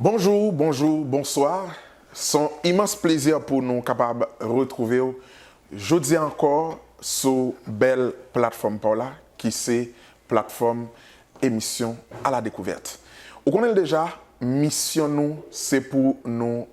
Bonjou, bonjou, bonswa, son imans plezi pou nou kapab retrouvew jodi ankò sou bèl platfòm paw la ki se platfòm emisyon a la dekouvèt. Ou konnenl deja, misyon nou se pou nou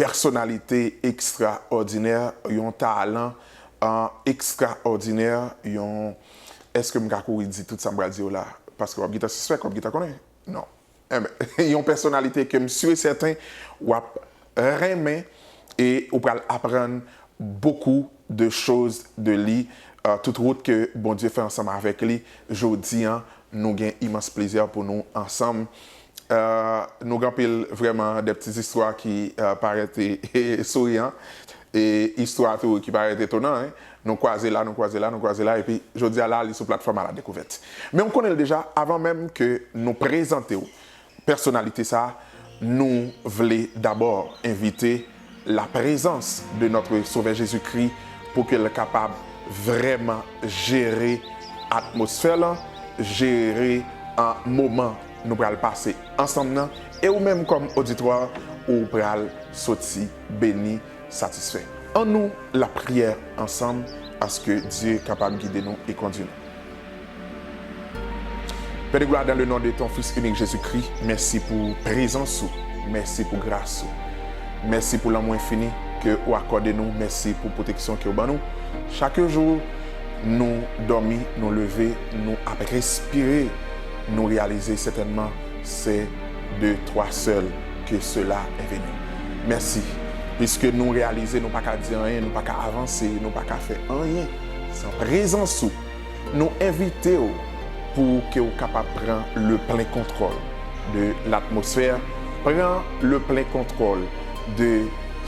Pèsonalite ekstraòdinè, yon talan ekstraòdinè, yon Èske m ka kouri di tout sa m pral di yo la? Paske w ap gentan sispèk, w ap gentan konnen. Non. Enben, yon pèsonalite ke m si e sèten w ap renmen e ou pral aprann bokou de choz de li tout wout ke Bondye fè ansanm avèk li. Jodi an, nou gen imans plezi pou nou ansanm Nou gen anpil vrèman de pti istwa ki parèt souriyan e istwa tou ki parèt etonan. Nou kwaze la, nou kwaze la, nou kwaze la epi jodi a la li sou platfòm aladekouvèt. Men ou konnen l deja avan menm ke nou prezante w pèsonalite sa nou vle dabò envite. la prezans de notre sovè Jezi Kri pou ke l kapab vrèman jere atmosfè lan, jere moman nou pral pase ansanm nan, e ou menm kòm oditwa ou pral soti beni, satisfè. Annou lapriyè ansanm aske Dye kapab gide nou e kondi nou. Pè de glwa dan le non de ton fis inik Jezi Kri mèsi pou prezans ou mèsi pou gras ou mèsi pou lanmou enfini ke ou akòde nou mèsi pou pwoteksyon ke ou ban nou chak jou nou dòmi nou leve nou ap respire nou reyalize sètènman se de twa sèl ke sela è veni mèsi piske nou reyalize nou paka di anyen nou paka avanse nou paka fè anyen san prezans ou. Nou envite w pou ke w kapab pran le plen kontwòl de latmosfè, pran le plen kontwòl de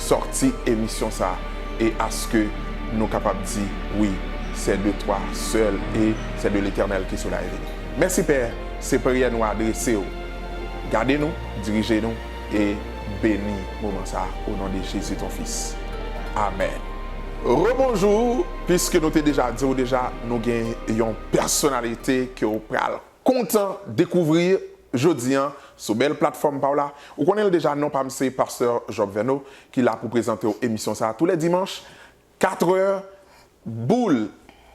sòti emisyon sa a e aske nou kapab di, wi, se de twa sèl e se de Letènèl ke sela e vini. Mèsi, Pè, se priyè nou adrese w. Gade nou, dirije nou. e beni moman sa o non de Jezi ton fis amen. Rebonjour piske nou te deja diw deja nou gen yon pèsonalite ke ou pral kontan dekouvri jodi an sou bèl platfòm paw la ou konnenl deja non pam se Pasteur Job Verneau ki la pou prezantew emisyon sa tou lè dimanch Katrè boule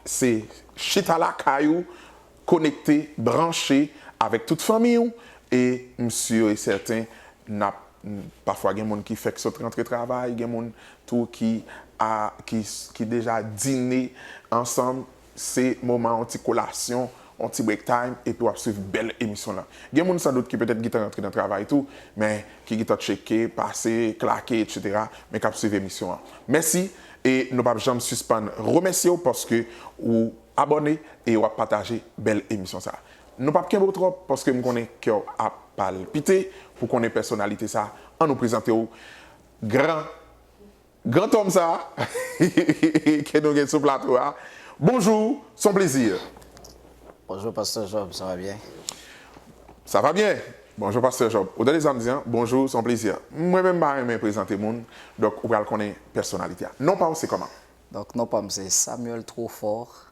se chita lakay ou konekte, branche avèk tout fanmiy ou e m sur e sèten nap pafwa gen moun ki fèk sot rantre travay gen moun tou ki deja dine ansanm Se moman yon ti kolasyon, yon ti break time epi wap swiv bèl emisyon lan. Gen moun san dout ki petèt gentan rantre nan travay tou, men ki gentan tcheke, pase, klake etc. Men kap swiv emisyon an. Mèsi e nou pap janm sispann remèsyew paske ou abòne e wap pataje bèl emisyon sa. Nou pap kenbew twòp paske m konnen kèw ap palpite pou konnen pèsonalite sa. An nou prezantew gran. Gran Tom sa ke nou gen sou plato a Bonjour son plezi. Bonjour pasteur Job sa va byen? Sa va byen Bonjour pasteur Job ou tande sam di an Bonjour son plezi Mwen menm pa renmen prezante moun donk ou pral konnen pèsonalite a Non paw se koman? Donk non pam se Samuel Trofort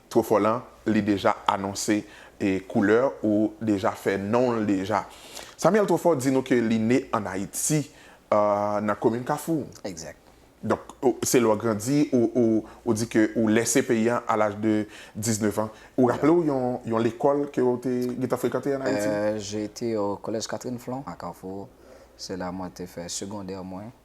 Two fò lan li deja anonse koulè ou deja fè non l deja. Samuel Two fò di nou ke li ne an Ayiti nan komin Kafou. Exact. Donk se lè w grandi ou di ke ou lèse peyi an a laj de 19 ans. Ou raple w yon lekòl ke w te gentan frekante an Ayiti? J'ai été au collège Catherine Flon à Carrefour. Se la mwen te fè segondè mwen.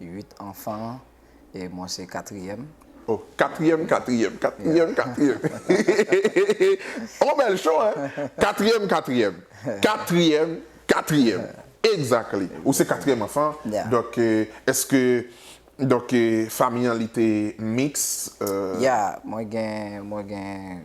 8 anfan an e mwen se katriyèm. Oh katriyèm katriyèm katriyèm katriyèm hehehehe oh bèl show hein katriyèm katriyèm katriyèm katriyèm exactly ou se katriyèm anfan donk eske donk famiy an li te mix? Yeah mwen gen mwen gen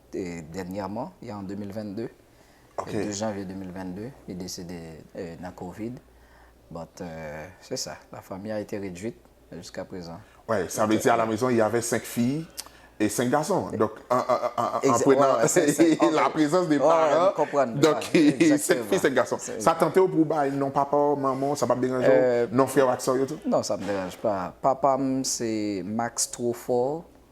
Dènyèman, e an 2022, 2 janvye 2022, li desede nan Covid. But, se sa, la famille a été réduite jusqu'à présent. Wè, sa vle di a la maison il y avait 5 filles et 5 garçons. Donk, an prenan la prezans de paran, donk, 5 filles, 5 garçons. Sa tante w pou w bay non papa w, manman w, sa pa p deranje w, non frè w ak sè w yo tou? Non, sa m deranje pa. Papa m se Max Trofort.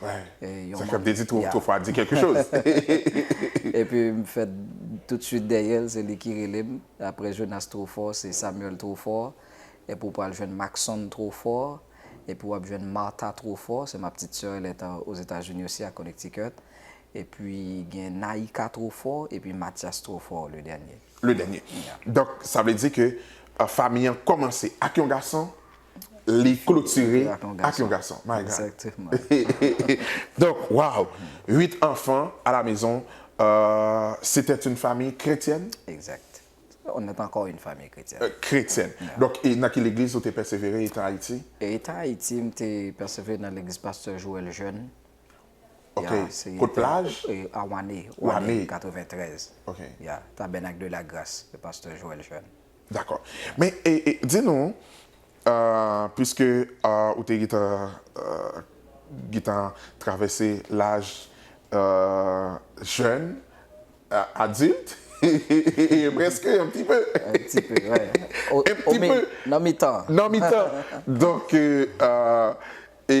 Sa fè m te di two fwa di kèlke choz. Epi m fèt toutswit dèyè l, se li ki rele m. Aprè Jonas Trofò, se Samuel Trofò. Epi w pral jwenn Maxon Trofò. Epi w ap jwenn Martha Trofò, se ma ptit sè, li Ozetazini osi ak Connecticut. Epi gen Naïka Trofò, epi Mathias Trofò le dènye. Le dènye. Donk sa vle di ke fanmi an kòmanse ak yon gason li klotire ak yon gason my God donk waw 8 anfan a la mezon se tè yn famiy kretyèn on et ankò yn famiy kretyèn kretyèn donk nan ki legliz ou te pèsevere etan Ayiti etan Ayiti m te pèsevere nan legliz pastè Joel Jeune ok kot plaj a wane wane 93 ya tabènak de la gras pastè Joel Jeune Dakò. Men, di nou, pwiske ou te gentan travèse laj jèn, adilt, prèske yon ti pe. Yon ti pe, wè. Yon ti pe. Nan mitan. Nan mitan. Donk, e,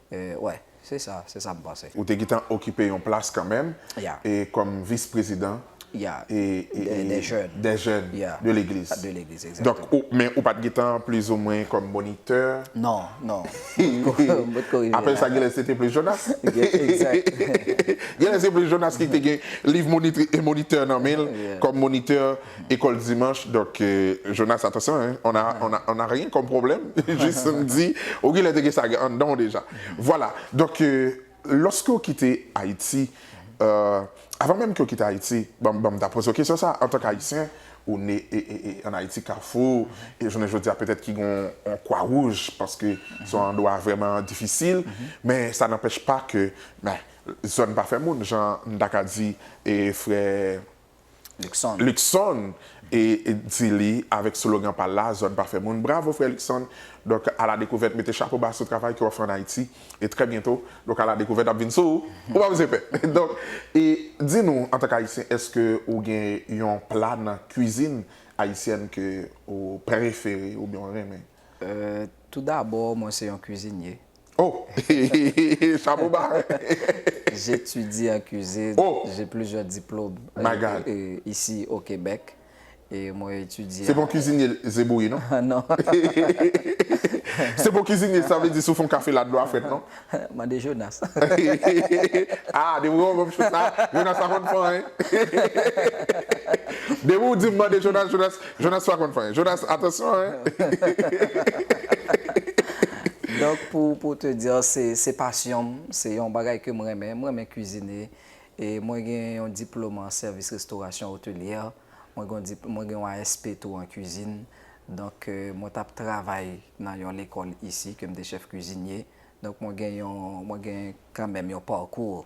Wè, se sa, se sa m panse. Ou te gentan okipe yon plas kanmenm e kòm vis prezidan e dè jèn dè jèn de legliz de legliz donk ou men ou pat gentan plizoumwen kòm monitè non non m pot ko rive la apre sa genlè se te plis jonas egzat genlè se plis jonas ki te gen liv monitè nan men l kòm monitè École dimanche donc Jonas attention hein on a on a on a rien comme problème juste m di ou gen lè te gen sa anndan w deja voilà donc lorsque w kite Haïti euh avant même ke w kite Haïti banm banm ta poze w kesyon sa antank Haïtien ou ne en Haïti Carrefour e jounen jodi a peut-être ki gon yon Croix Rouge paske se yon andwa vrèman difisil men sa n'empêche pas ke zòn pa fè moun jan m ta ka di frè Luckson di li avèk slogan pa l la, Zòn pa fè moun. Bravo frè Luckson! Donk a la dekouvèt mete chapo ba sou travay ke w ap fè an Ayiti. E trè byento, donk a la dekouvèt ap vin sou ou. Ou pa bezwen pè. Donk, e di nou antank Ayisyen èske ou gen yon pla nan kwizin ayisyèn ke ou prefere oubyen ou renmen? Tou dabò mwen se yon kwizinye. Oh! Shabooba! J'étudie en cuisine. Oh! J'ai plusieurs diplômes. My God! Ici au Québec. E mwen etidye. Se bon kizinye ze bouyi non. Non. Se bon kizinye sa vle di si w fè yon kafe la dlo a frèt non. Mande Jonas. Ah depi w banm chouk sa Jonas pa konn pan hein. Depi w dim mande Jonas Jonas. Jonas pa konn fanyen. Jonas atansyon hein. Donk pou pou te dire se se pasyon m, se yon bagay ke m renmen, m renmen kizine e mwen gen yon diplome an service restauration hotelière, mwen gen yon di mwen gen yon ASP tou an cuisine, donk mwen tap travay nan yon lekòl isi ke m te chef cuisinier, donk mwen gen yon mwen gen kanmenm yon parcours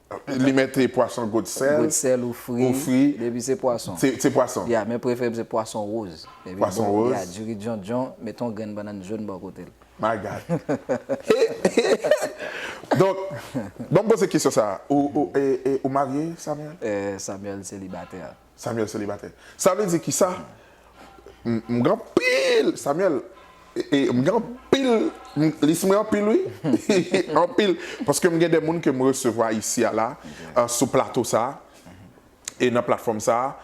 Li mete pwason gout sèl. Gout sèl ou fri. Ou fri. Depi se pwason. Se pwason. Ya, men preferem se pwason roz. Pwason roz. Ya, diri djondjon, mete yon grenn bannann jòn bò kote l. My God. Donk, banm poze kesyon sa a. Ou marye, Samuel? Samuel selibatè. Samuel selibatè. Sa vle di kisa? M gen anpil Samuel m gen anpil li sou mwen anpil wi anpil paske m gen de moun ke m resevwa isi a la sou plato sa e nan platfòm sa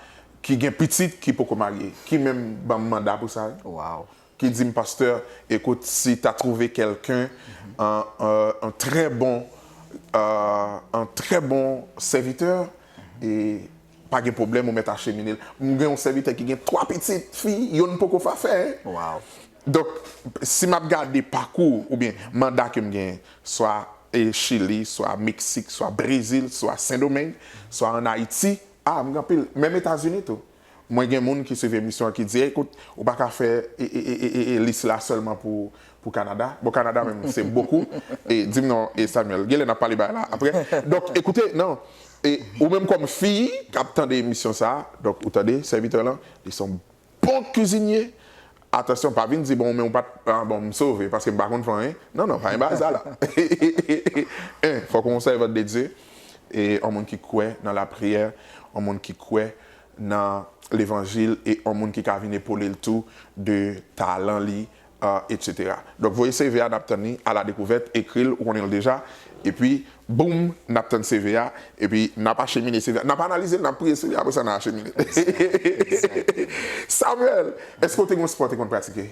ki gen pitit ki poko marye ki menm ban m manda pou sa ki di m pastè ekout si ta twouve kelken yon trè bon yon trè bon sèvitè e Pa gen pwoblèm ou mèt achemine l. M gen yon sèvitè ki gen 3 pitit fi, yonn poko fa fè. Donk, si m ap gade pakou oubyen manda ke m genyen, swa Chili, swa Meksik, swa Brezil, swa Sendomeng, swa an Ayiti, a, m gen anpil, menm Etazini tou. Mwen gen moun ki swiv emisyon an ki di, ekout, ou pa ka fè lis la sèlman pou pou Canada bon Canada menm se bokou e dim non e Samuel genlè nap pale bagay la aprè donk ekoute nan e ou menm kòm fi kap tande emisyon sa donk ou tande sèvitè lan li son bon kuzinye atansyon pa vin di bon men ou pat ah bon m sove paske m pa konn fè anyen non non pa gen bagay sa la en fòk ou yon sèvant de Dieu e yon moun ki kwè nan la priyè yon moun ki kwè nan levanjil e yon moun ki ka vin epole l tou de talan li Etc. Donk voye CV a nap tann li a la dekouvèt, ekril ou konnenl deja epi boom nap tann CV a epi nap achemine CV a, nap analize l nap priye sou li apre sa nan achemine l. Samuel, eske ou te gen yon spò ou te konn pratike?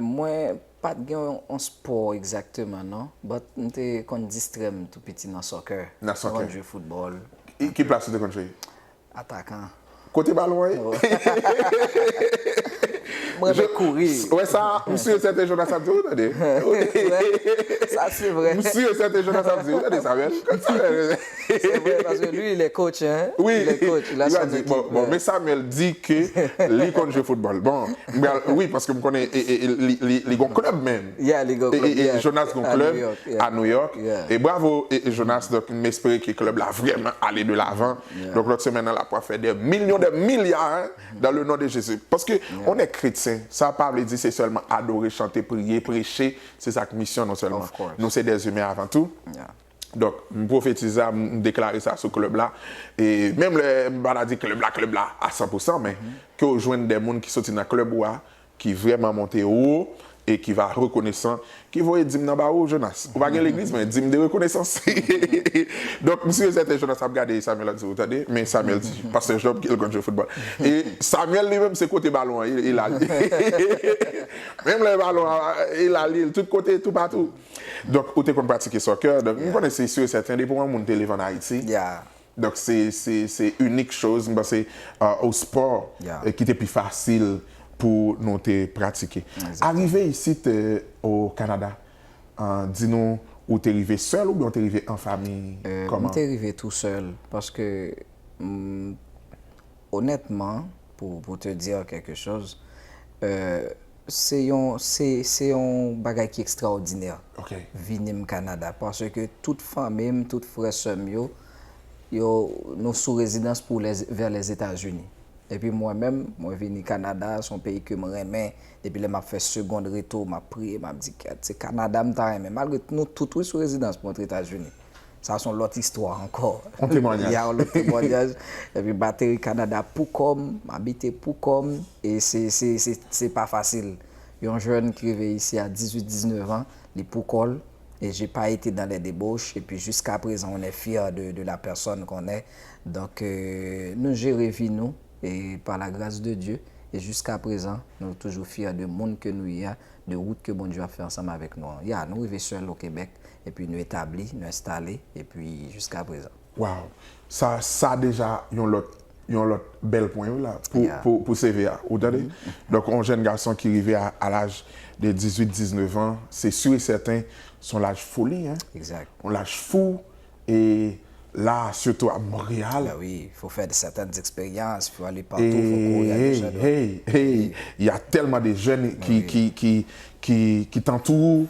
Mwen pat gen yon spò egzakteman non, but m te konn distrè m tou piti nan soccer, m te konn jwe football. Ki plas ou te konn jwe? Atakan. Kote balon an ye? M renmen kouri. Ou wè sa? M si e sèten Jonas ap di wi tande. Sa se vre. M si e sèten Jonas ap di wi tande Samuel. Kot Samuel ye? Se vre paske li le coach hein. Wi. Le coach. Li ap di bon bon men Samuel di ke li konn jwe foutbòl. Bon m pral wi paske m konnen li gon club menm. Yeah li gon club. E Jonas gon club a New York. E bravo Jonas donk m espere ke club la vrèman ale de lavan Donk lòt semèn nan la pwal fè dè milyon dè milya dan le non de Jezi. Paske on è kretyen sa pa vle di se sèlman adore chante priye preche se sak misyon nou sèlman. Nou se dè imen avan tou. Donk m pwofetize sa m deklare sa sou klèb la e menm lè m pa ta di klèb la klèb la a san pou san men ke w jwenn dè moun ki soti nan klèb ou a ki vrèman monte wo e ki va rekonesan, ki voye dim nan ba ou, Jonas. Ou pa gen legliz, men dim de rekonesans. Donk, m si e sèten Jonas ap gade Samuel ap di, ou tande, men Samuel di, Pastè Job ke l konn jwe foutbòl. E Samuel li menm se kote balon an ye, e l al li. Menm lè balon an, e l al li, tout kote, toupatou. Donk, ou te konn pratike soccer, donk m konnen se si e sèten depi w an moun te leve an Ayiti. Donk se se inik choz m panse o spò ki te pi fasil pou nou te pratike. Arive isit o Kanada di nou ou te rive sèl oubyen ou te rive an fami kòman? M te rive tou sèl paske m onètman. Pou te dire quelque chose, se yon, se yon bagay ki ekstraòdinè vini m Kanada parce que tout fanmi m, tout frè sè m yo, yo, nou sou rezidans pou lè, vè Lèzetazini. Epi mwen menm, mwen vini Kanada, se yon peyi ke m renmen, depi lè m ap fè segond reto, m ap priye, m ap di, Kèt, se Kanada m ta renmen, malgre nou tout wi sou rezidans pou antre Etazini. Sa son lòt istwa ankò. On temwanyaj. Ya on lòt temwanyaj. Epi bateri Kanada pou kòm, m abite pou kòm, e se pa fasil. Yon jèn ki rive isi a 18, 19 an, li pou kò l, e je pa ete dan lè debouch, epi jiska prezan on è fyè de la pèsòn kon è. Donk nou jere vi nou, e pa la gras de Dye, e jiska prezan nou toujou fyè de moun ke nou ye a, de wout ke Bondye ap fè ansanm avèk nou an. Ya nou rive sèl o Kebèk. epi nou etabli, nou enstale, epi jiska prezan. Waw! Sa sa deja yon lòt yon lòt bèl pwen wi la pou pou pou CV a ou tande. Donk yon jèn gason ki rive a a laj de 18, 19 an se si e sèten se yon laj foli hein, yon laj fou e la sitou a Montréal. Ben wi, fò w fè sètèn eksperyans, fò w ale patou, fò w kouri ak de jèn. Hey! Hey! Hey! Ya tèlman de jèn ki ki ki ki ki tantou ou,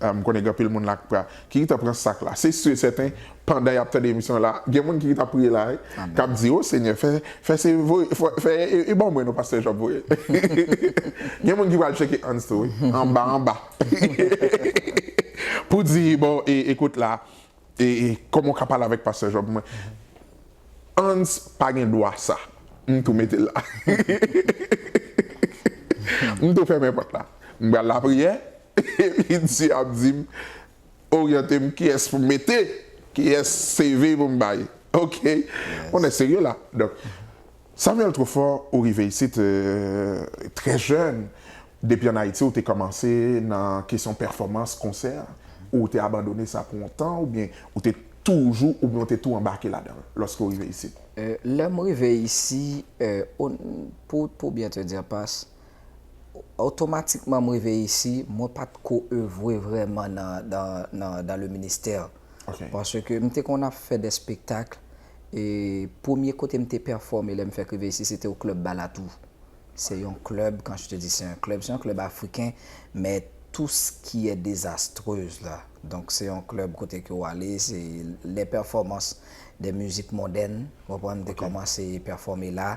M konnen gen anpil moun la k pra ki gentan pran sak la. Se su e sèten pandan yap tande emisyon an la gen moun ki gentan ap priye la wi kap di o senyè fè fè se voye fè e ban mwen non pastè Job voye gen moun ki pral tcheke Hans tou wi anba anba pou di bon e ekout la e kòman w ka pale avèk pastè Job mwen Hans pa gen dwa sa m tou mete l la m tou fèmen pòt la m pral lapriyè Epi Dye ap di m, Oryante m kiyès pou m mete, kiyès CV pou m bay. Ok. On est sérieux là. Donk, Samuel Truffaut, ou rive isit trè jèn. Depi an Ayiti ou te kòmanse nan kesyon pèfòmans, konsè? Ou ou te abandone sa pou on tan oubyen ou te toujou oubyen ou te tou anbake ladan l lòske ou rive isit? Lè m rive isi, on, pou byen te dire, pas, Otomatikman m rive isi, mwen pa t ko evwe vrèman nan le ministè. Paske m te konn ap fè dè spektakl, e premye kote m te pèfòme lè m fèk rive isi, se te o klèb Balatou. Se yon klèb, kan je te di se yon klèb, se yon klèb afriken, men tou s ki è dezastrez la. Donk se yon klèb kote ke w ale, se lè pèfòmans dè mizik mondèn, w konprann, te kòmanse pèfòme la.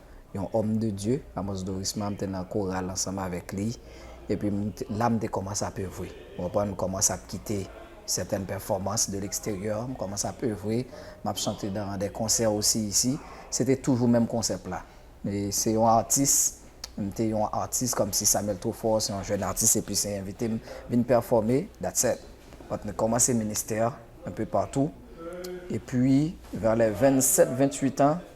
yon homme de Dieu, Amos Dorisma, m te nan koral ansanm avèk li, epi m t la m te kòmanse ap evre, ou konprann, m kòmanse ap kite certaines performances de l'extérieur, m kòmanse ap evre, m ap chante dans des concerts aussi ici, se te toujou menm konsèp la, e se yon atis, m te yon atis kòmsi Samuel Truffauts se yon jèn atis epi se envite m vin pèfòme, that's it, but m kòmanse ministè un peu partout, epi vers les 27, 28 ans,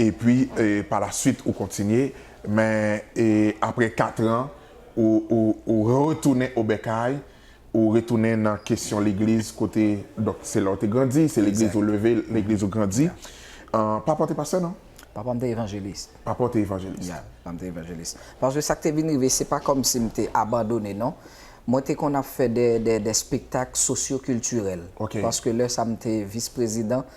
epi pa la suite ou kontinye men aprè 4 ans ou retounen o bèkay ou retounen nan kesyon legliz kote donk se la ou te grandi se legliz ou leve legliz ou grandi papa ou te pastè non? Papa m te evanjelis. Papa w te evanjelis. Ya, papa m te evanjelis. Paske sa k te vin rive, se pa kòmsi m te abandone non. Mwen te konn ap fè dè spektak sosyo-kiltirèl. Ok. Paske lè sa m te vis-prezidan,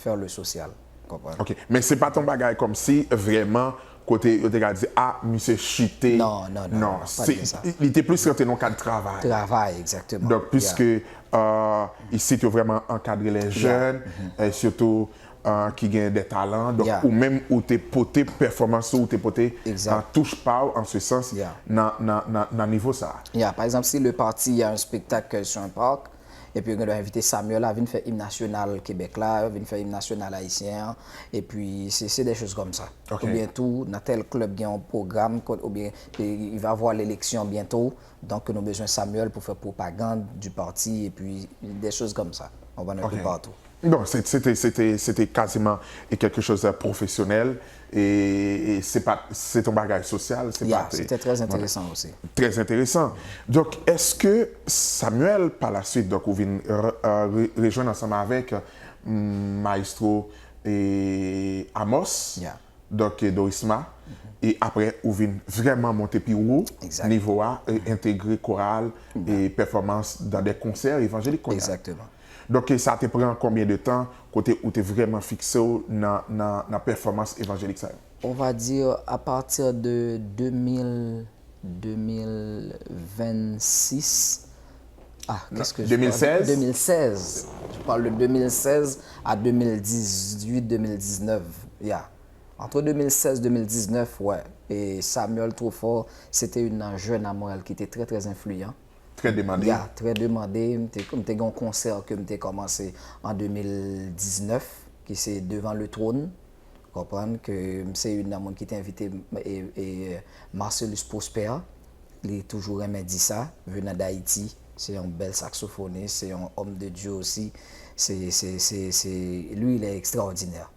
faire le social. Ou konprann? Ok. Men se pa t yon bagay kòmsi vrèman kote yo te ka di, a, misye chite. Non, non, non. Non. Pa t gen sa. Li te plis rantre nan yon kad travay. Travay, egzakteman. Donk, piske isit yo vrèman ankadre lè jèn, sitou ki gen dè talan. Donk, ou menm ou te pote pèfòmans ou, ou te pote touch pa ou an se sans nan nivo sa a. Ya. Pa egzanp, si le parti a yon spektak ke l sou yon park, Epi yo gen dwa envite Samuel a vin fè im nasyonal Kebèk la, vin fè im nasyonal ayisyen an, epi se se dè choz kòm sa. Oubyen tou nan tèl klèb gen yon pwogram kont oubyen il va avoir l'élection bientôt donk ke nou bezwen Samuel pou fè pwopagand du parti epi dè choz kòm sa. Ou konprann? Epi patou. Donk se te se te se te kaziman e kèlke choz pwofesyonèl. e se pat se ton bagay sosyal se pat se te trè enteresan osi trè enteresan donk eske Samuel pa la suit donk ou vin rejwenn ansanm avèk maestro e Amos donk e Dorisma e aprè ou vin vrèman monte pi wo nivo a entegre koral e pèfòmans dan de konsè evanjelik kounye a. Donk sa te pran konbyen de tan kote ou te vrèman fikse w nan pèfòmans evanjelik sa yo? On va dire a partir de 2000, 2026, ah qu'est ce que je parle? 2016? 2016, je parle de 2016 à 2018, 2019, ya. Entre 2016, 2019, wè, Samuel Truffort se te youn nan jèn a Montréal ki te trè trè enfliyan. Très demandé. Ya, Très demandé, m te m te gen yon konsè ke m te kòmanse an 2019 ki se Devant le trône, ou konprann, ke m se youn nan moun ki te envite Marcellus Prosper, li toujou renmen di sa, venant d'Haïti, se yon bèl saksofonis, se yon homme de Dieu aussi, se se se se lui il est extraordinaire.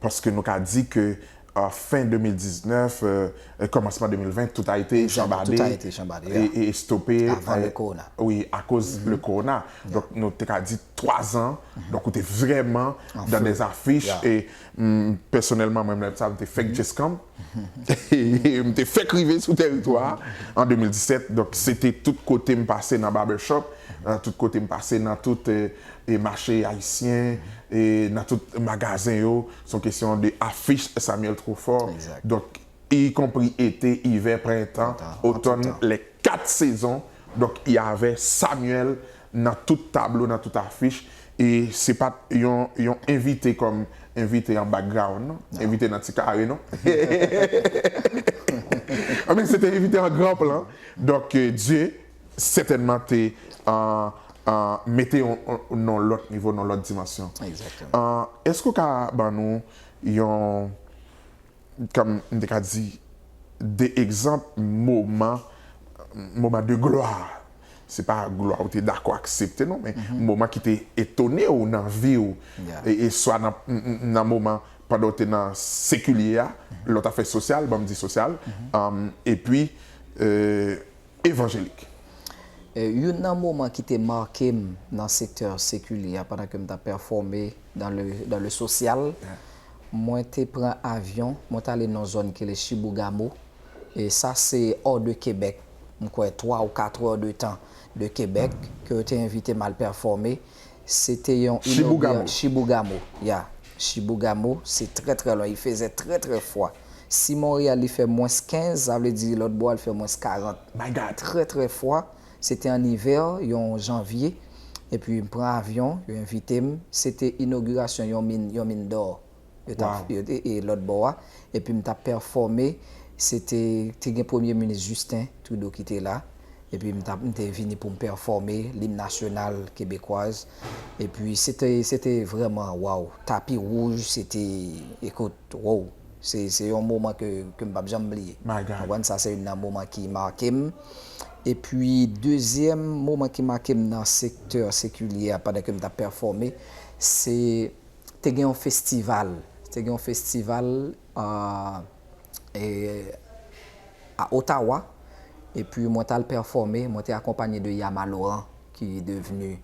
Paske nou ka di ke fen 2019, kòmansman 2020, tout a ete chanbade, estope, wi, akoz le korona. Donk nou te ka di 3 zan, donk ou te vreman dan de zafich, e pèsonèlman mwen menm sa, mwen te fèk Jeskamp, M te fèk rive sou tèritwa a an 2017, donk se te tout kote m pase nan barbershop, tout kote m pase nan tout mache ayisyen, nan tout magazen yo, se yon kesyon de afich Samuel Truffaut, donk ikonpri ete, ivè, prentan, otòn, lè kat sezon, donk y avè Samuel nan tout tablo nan tout afich e se pat yon yon envite kòm envite an background non envite nan ti kare non anben se te envite an gran plan donk Dye sètènman te mete w nan lòt nivo nan lòt dimansyon eske w ka ban nou yon Kòm m te ka di de egzanp moman, moman de glwa, se pa glwa ou te dakò aksepte non men moman ki te etone ou nan vi w, e swa nan moman pandan ou te nan sekilye a, lè w ta fè sosyal, ban m di sosyal, epi evanjelik. Youn nan moman ki te make m nan sektè sekilè a pandan ke m t ap pèfòme nan le dans le social, mwen te pran avyon, mwen t ale nan yon zòn ki rele Chibougamau, e sa se hors de Québec, m kwè 3 ou 4 heures de temps de Québec, ke yo te envite m al pèfòme. Se te yon inogura Chibougamau ya Chibougamau se trè trè lwen li fezè trè trè fwa si Montréal li fè mwens 15 sa vle di lòt bò a li fè mwens 40 trè trè fwa se te an ivè yon janvye epi m pran avyon yo envite m se te inogurasyon yon min yon min dò yo tap e lòt bò a epi m tap pèfòme se te te gen premye minis Justin Trudeau ki te la epi m tap m te vini pou m pèfòme lim nasyonal kebekwaz epi se te se te vrèman waww tapi wouj se te ekout woww se se yon moman ke ke m pap janm bliye ou konprann sa se youn nan moman ki make m epi dezyèm moman ki make m nan sektè sekilyè a pandan ke m tap pèfòme se. te gen yon festival, te gen yon festival a Ottawa, epi mwen tal pèfòme, mwen te akonpanye de Yama Laurent ki devenu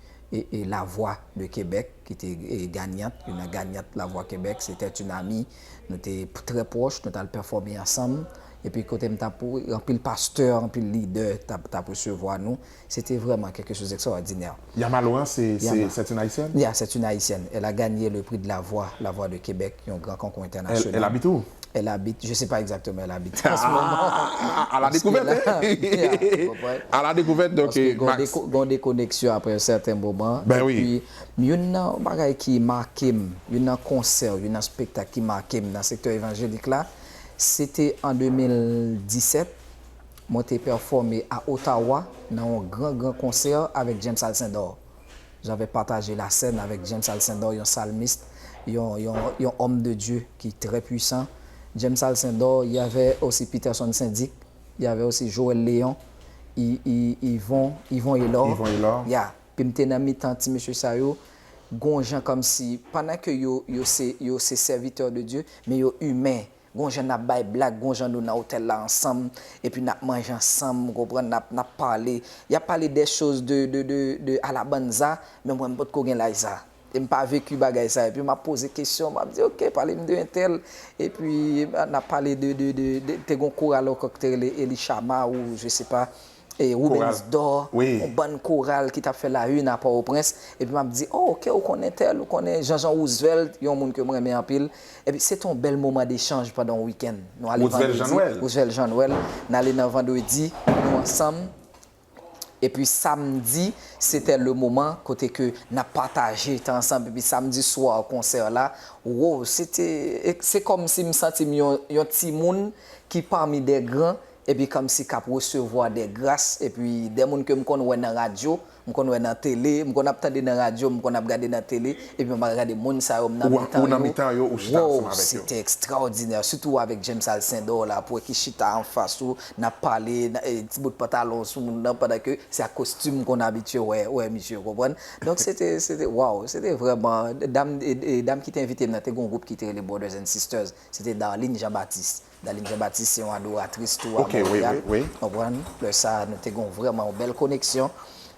la vwa de Kebèk, ki te ganyant, yon nan ganyant la vwa Kebèk, se tèt yon ami, nou te trè pwòch, nou tal pèfòme ansanm, epi kote m tap, anpil pastè, anpil lidè tap resevwa nou. Se te vrèman kèlke chose d'extraordinaire. Yama Laurent se c'est une Haïtienne? Yeah, c'est une Haïtienne. Elle a gagné le prix de la voix, la voix de Québec, yon gran konkou entènasyonal. Elle habite où? Elle habite, je sais pas exactement elle habite en ce moment. Ah! A la dekouvèt hein! A la dekouvèt donc Max. Paske gon dekoneksyon après un certain moment. Ben oui. Et puis, youn nan bagay ki make m, youn nan konsè, youn nan spektak ki make m nan sektè evanjelik la, se te an 2017, Mwen te pèfòme a Ottawa nan yon gran gran konsè avèk James Alcindor. J'avais partagé la scène avec James Alcindor, yon salmiste, yon, yon, yon homme de Dieu ki trè puissant. James Alcindor, il y avait aussi Peterson Syn-Dic, il y avait aussi Joël Léon, y, y, Yvon, Yvon Hélor, Yvon Hélor. yeah, pi m te nan mitan ti mesye sa yo, gon jan kòmsi, pandan ke yo, yo se, yo se serviteur de Dieu, men yo humain. Gon jan nap bay blag gon jan nou nan hotel la ansanm epi nap manje ansanm ou konprann nap nap pale yap pale des choses de de de de ala banza men mwen mpotko gen laj sa e mpa vecu bagay sa epi map poze kesyon map di ok palem de entèl epi nap pale de de de te gon koral ankò ki te rele Elishama ou je se pa. Roubens Dor, yon bann koral ki t ap fè la une a Pòwoprens, epi m ap di, o, ke ou konnen tèl, ou konnen Janjan Roosevelt, yon moun ke m renmen anpil. Epi se te yon bèl moman dechanj pandan yon wikenn. Nou ale vandredi. Roosevelt Jean-Noël. Roosevelt Jean-Noël. N ale nan vandredi, nou ansanm. Epi samdi, se te le moman kote ke n ap pataje tan ansanm. Epi samdi swa konsè la, woo, se te, se kòmsi m santi m yon timoun ki pami de gran, epi kòmsi kap resevwa dè gras epi dè moun kem konn wè nan radyo m konn wè nan tele m konn ap tande nan radyo m konn ap gade nan tele epi m ap gade moun sa yo m nan mitan yo woww sete extraordinaire sitou avèk James Alcindor la pou wè ki chita anfas ou nap pale ti bout pantalon sou moun nan pandan ke se ak kostim m konn abitye wè wè misye ou konprann donk sete sete waww sete vrèman dam dam kite envitem nan te gon gwoup kite rele Brothers and Sisters sete Darline Jean Baptiste. Daline Jean Baptiste se yon adoratris tou a Montreal, ou konprann, lè sa a nou te gen yon vrèman yon bèl koneksyon,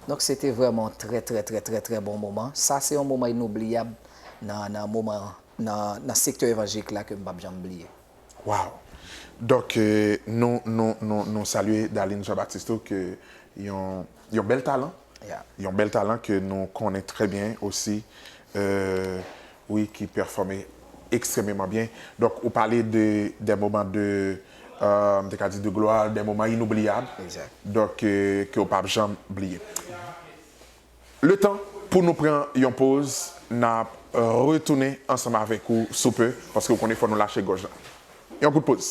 donk se te vrèman yon trè trè trè trè trè bon moman, sa se yon moman inobliyab nan nan moman nan nan sektè evanjilik la ke m pap janm bliye. Waw! Donk nou nou nou nou salye Daline Jean Baptiste tou ke yon yon bèl talan, yon bèl talan ke nou konnen trè byen osi, euh. Wi ki pèfòme ekstrememan byen. Donk ou pale de dè moman de m te ka di de glwa, dè moman inoubliyab. Exact. Donk ke w pap janm bliye. Letan pou nou pran yon poz n ap retounen ansanm avèk ou sou pe paske ou konnen fò nou lache gòj la. Yon kout poz.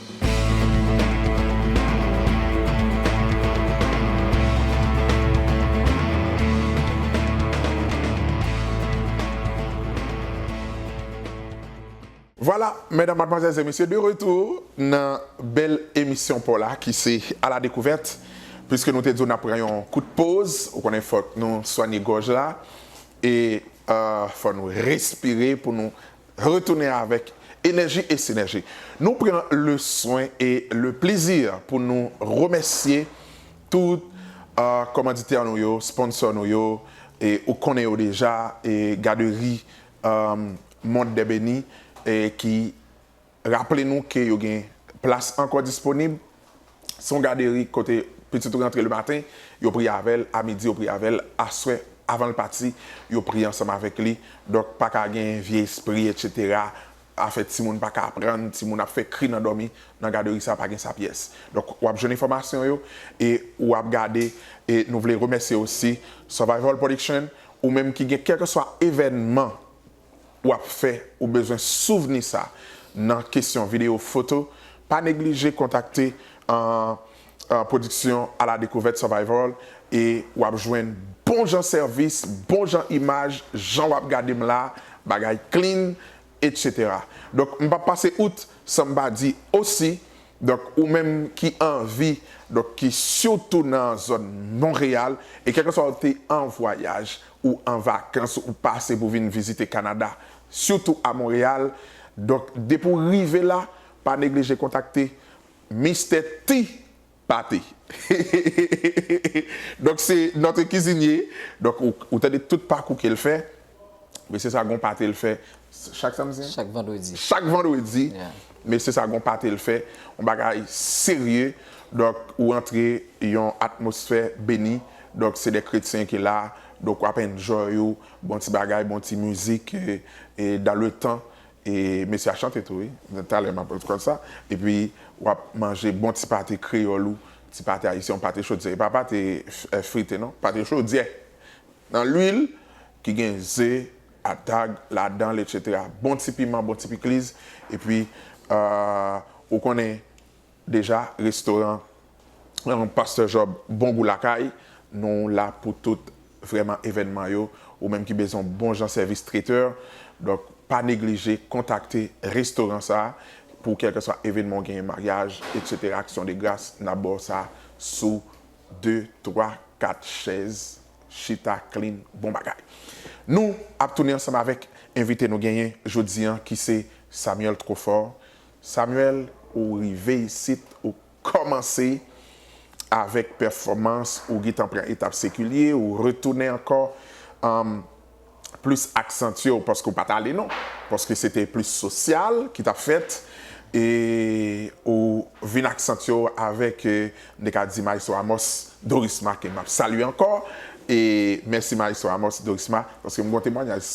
Vwala medam madmwazèl e mesye de retou nan bèl emisyon paw la ki se a la dekouvèt piske nou te di w nap pran yon kout poz ou konnen fòk nou swanye gòj la e fò nou respire pou nou Retounen avèk enèji e sinèji. Nou pran le swen e le plezi pou nou remèsye tout kòmanditè nou yo, sponsò nou yo, e ou konnen yo deja, e gaderi Monde des Bénis ki raple nou ke yo gen plas ankò disponib. Son gaderi kote pitit ou rantre le maten, yo priye avè l, a midi yo priye avè l, aswè avan l pati yo priye ansanm avèk li. Donk pa ka gen vye espri etc. Afè timoun pa ka aprann, timoun ap fè kri nan dòmi, nan gaderi sa pa gen sa pyès. Donk w ap jwenn enfòmasyon yo e ou ap gade e nou vle remèsye osi Survival Production, ou menm ki gen kèlkeswa evènman w ap fè ou bezwen souvni sa nan kesyon videyo foto, pa neglije kontakte Pwodiksyon A la Dekouvèt Survival e w ap jwenn bon jan sèvis, bon jan imaj, jan w ap gade m la, bagay clean, etc. Donk m p ap pase out san m pa di osi, donk ou menm ki anvi, donk ki sitou nan zòn Monreyal e kèlkeswa ou te an vwayaj Ou an vakans ou pase pou vin vizite Kanada, sitou a Monreyal, donk depi w rive la, pa neglije kontakte Mistè T Pate. Donk se notre cuisinier, donk ou tande tout pakou ke l fè, mesye sa gon pate l fè chak samdi? Chak vandredi. Chak vandredi. Mesye sa gon pate l fè, yon bagay serye, donk ou antre yon atmosfè beni, donk se de kretyen ki la, donk wap enjoy ou, bon ti bagay, bon ti mizik, e dan le tan, e mesye a chante tou wi, talè map pran kont sa, epi wap manje bon ti pate kreyòl ou, ti pate ayisyen ou, pate chodyè, e pa pate frite non, pate chodyè, nan lwil, ki gen ze, atag, ladanl etc bon ti piman bon ti pikliz epi ou konnen deja restoran Pasteur Job bon gou lakay nou la pou tout vrèman evènman yo ou menm ki bezwen yon bon jan sèvis traiteur donk pa neglije kontakte restoran sa pou kèlkeswa evènman ou genyen maryaj etc aksyon de gras nap baw sa sou 2 3 4 chèz Chita Clean bon bagay. Nou ap tounen ansanm avèk envite nou genyen jodi an ki se Samuel Trofort. Samuel ou rive isit ou kòmanse avèk pèfòmans ou getan pran etap sekilye ou retounen ankò. plis aksantye w paske w pa t ale non, paske se te plis sosyal ki t ap fèt e ou vin aksantye w avèk, m te ka di Maestro Amos Dorisma ke m ap salye ankò e mèsi Maestro Amos Dorisma paske m gen yon temwanyaj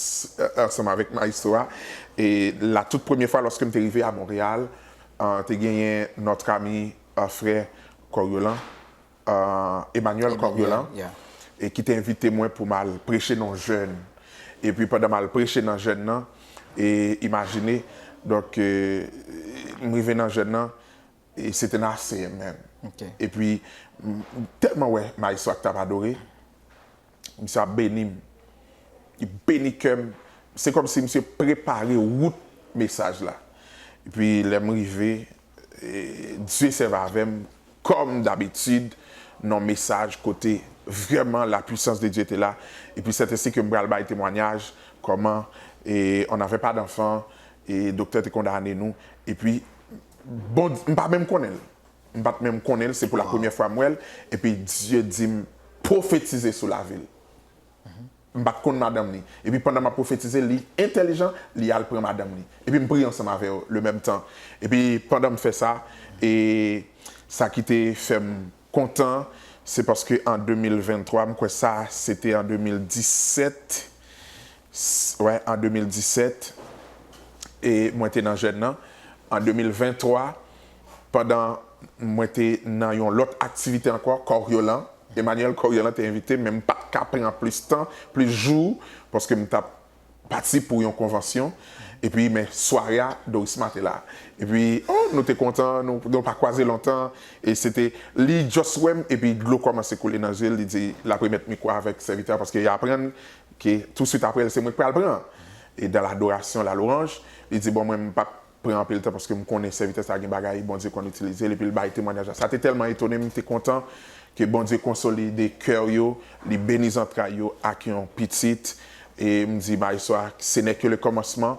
ansanm avèk Maestro a e la tout premye fwa lòske m te rive a Montréal te genyen notre ami frère Coriolan Emmanuel Coriolan e ki te envite mwen pou m al preche nan yon jèn. E pi pandan m al preche nan jèn nan, e imajine, donk, m rive nan jèn nan, e se te nan ACM menm. E pi, m tèlman wè Maestro ak t ap adore. Misye ap beni m. Li beni kè m. Se kòm si misye prepare wout mesaj la. Epi lè m rive, Dye sèvi avè m kòm dabitid nan yon mesaj kote vrèman la pwisans de Dye te la. Epi sètansè ke m pral bay temwanyaj kòman on n'avait pas d'enfant e doktè te kondane nou. Epi bon, m pa menm konnen l. m pat menm konnen l se pou la premyè fwa m wè l epi Dye di m pwofetize sou lavi l m pat konn madanm li epi pandan m ap pwofetize li entèlijan li al pran madanm li epi m priye ansanm avè yo le mèm tan epi pandan m fè sa e sa ki te fè m kontan se paske an 2023 m kwè sa se te an 2017 wè an 2017 e mwen te nan jèn nan an 2023. pandan mwen te nan yon lòt aktivite ankò, Coriolan, Emmanuel Coriolan te envite m men m pa t ka pran plis tan, plis jou paske m t ap pati pou yon konvansyon. Epi men sware a Dorisma te la. Epi o nou te kontan, nou pa kwaze lontan e se te li just wè m epi dlo kòmanse koule nan je l li di l ap remèt mikwo a avèk sèvitè a paske li aprann ke touswit aprè l se mwen k pral pran e dan ladorasyon la louranj li di bon mwen m p ap pran anpil tan paske m konnen sèvitè sa a gen bagay Bondye konn itilize l epi l bay temwanyaj la. Sa te tèlman etone m, m te kontan ke Bondye konsolide kè yo, li beni zantray yo ak yon pitit. E m di maestro a, se nè ke le kòmansman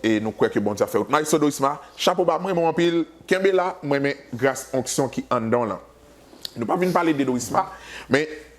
e nou kwè ke Bondye ap fè wout. Maestro Dorisma, chapo ba, m renmen w anpil, kenbe la, m renmen gras onksyon ki anndan w lan. Nou pa vin pale de Dorisma, men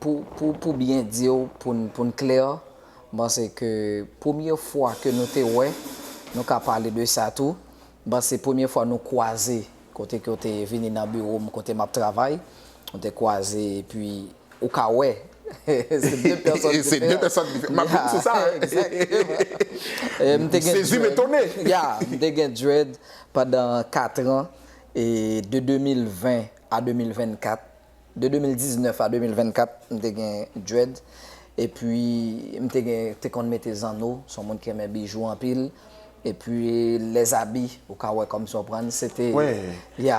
Pou byen di w, pou n klè, m panse ke premye fwa ke nou te wè, nou ka pale de sa tou, m panse premye fwa nou kwaze kote ke w te vini nan biwo m kote m ap travay, nou te kwaze epi ou ka wè se 2 pèsòn diferan. Se 2 pèsòn diferan. M ap vin sou sa. Exactement. M te gen dread. Sezi m etone. Ya. M te gen dread pandan 4 an, de 2020 a 2024. De 2019 a 2024, m te gen dread, epi m te gen, te konn mete zanno, son moun ki renmen bijou anpil, epi les habits, ou ka wè kòmsi w konprann, se te, ya.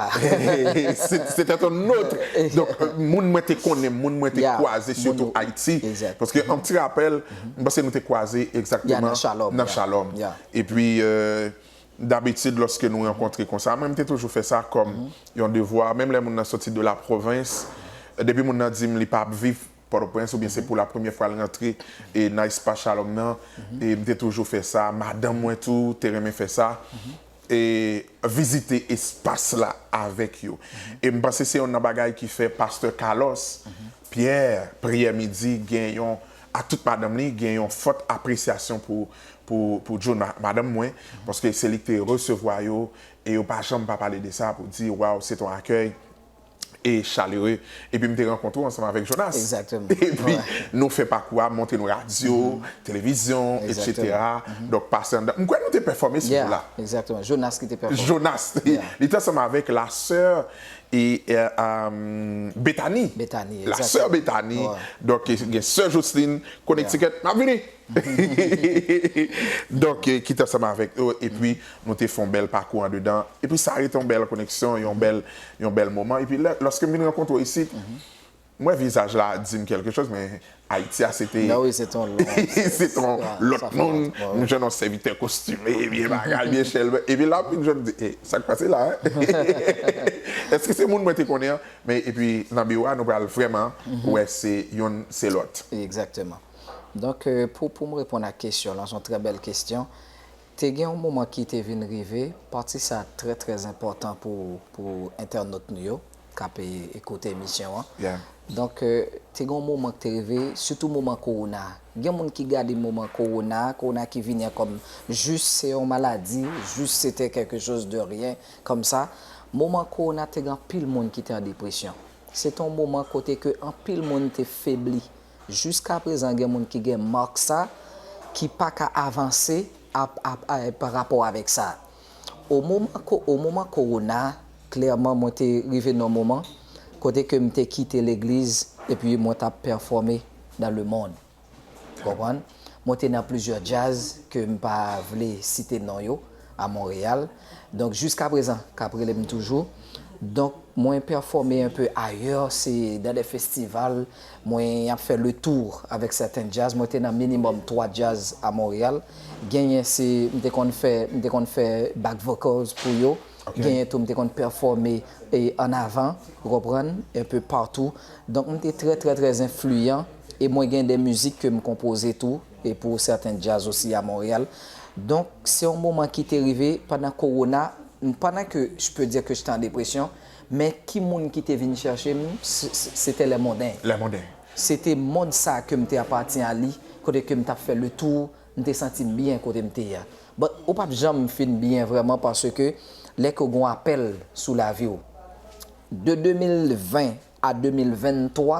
Se te ton notre, donk moun mwen te konnen, moun mwen te kwaze sitou Ayiti, paske yon ti rapèl, m panse nou te kwaze egzakteman nan Shalom, epi Dabitid lòske nou rankontre konsa, mwen m te toujou fè sa kòm yon devwa, menm lè moun nan soti de la pwovens, depi moun nan di m li pa ap viv Pòtoprens oubyen se pou la premyè fwa l rantre nan espas Shalom nan, m te toujou fè sa, madanm mwen tou te renmen fè sa, vizite espas la avèk yo. E m panse se yonn nan bagay ki fè pastè Carlos Pyè, Priyè midi gen yon ak tout madanm li gen yon fòt apresyasyon pou pou Djo madanm mwen paske se li ki te resevwa yo e yo pa janm pa pale de sa pou di waw se ton akèy e chalere epi m te rankontre w ansanm avèk Jonas epi nou fè pakou a montre nou radyo televizyon etc donk pase anndan m kwè nou te pèfòme sou jou la Jonas li te ansanm avèk la sè e Betani Betani la sè Betani donk gen sè Joslin Connecticut map vini donk ki t ansanm avèk yo epi nou te fè yon bèl pakou andedan epi sa rete yon bèl koneksyon yon bèl yon bèl moman epi lè lòske m vin rankontre w isit M wè vizaj la dim kelke choz men Ayiti a se te se te yon lot moun m jwenn yon sèvitè kostime byen bagay byen chèlbè epi la m jwenn m di e sak pase la eske se moun mwen te konnen an men epi nan biwo a nou pral vreman wè se youn se lot. Ekzakteman donk pou m reponn ak kesyon lan son trè bèl kesyon Te gen yon moman ki te vin rive, pati sa trè trè enpòtan pou pou entènot nou yo kap koute emisyon an. Donk te gen yon moman ki te rive, sitou moman kowona. Gen moun ki gade moman kowona, kowona ki vini an kòm jis se yon maladi, jis se te kèlke choz de ryen kòm sa. Moman kowona te gen anpil moun ki te an depresyon. Se te yon moman kote ke anpil moun te febli. Jiska prezan gen moun ki gen mark sa ki pa ka avanse pa rapò avèk sa. O moman o moman kowona klèman mwen te rive nan moman kote ke m te kite legliz epi mwen t ap pèfòme nan le mond. Ou konprann? Mwen te nan plizyè djaz ke m pa vle site non yo. a Montréal donc jusqu'à présent kap relem toujou donc mwen performer un peu ailleurs se dans des festival mwen ap fè le tour avec certains jazz mwen te nan minimum 3 jazz a Montréal genyen se m te konn fè m te konn fè back vocals pou yo genyen tou m te konn performer en avant ou konprann un peu partout donc m te très très très influent et mwen gen des musiques ke m konpoze tou e pou sèten djaz osi a Montréal. Donk se yon moman ki te rive pandan kowona, pandan ke je peux dire que j'étais en dépression, men ki moun ki te vin chèche m, sete Les Mondains. Les Mondains. Sete mond sa ke m te apatyen a li, kote ke m t ap fè le tour, m te santi m byen kote m te ye a. But ou pa p janm fin byen vrèman paske lè ke w gen yon apèl sou lavi w. De 2020 a 2023,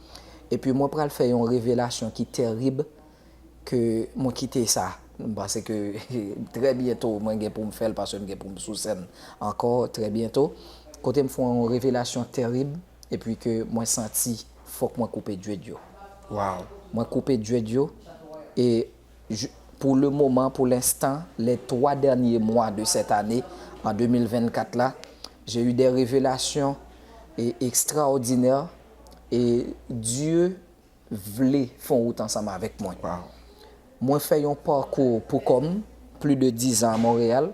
Epi mwen pral fè yon revelasyon ki tèrib ke mwen kite sa pase ke trè byento mwen gen pou m fè l pase m gen pou m sou sèn ankò trè byento kote m fè yon revelasyon tèrib epi ke mwen santi fòk mwen koupe dread yo. Waww. Mwen koupe dread yo e pou le moman, pou l'instant, les 3 derniers mois de cette année en 2024 la, j'ai eu des revelations extraordinaires E Dye vle fè yon wout ansanm avèk mwen. Mwen fè yon pakou pou kò m, pli de dizan a Monreyal.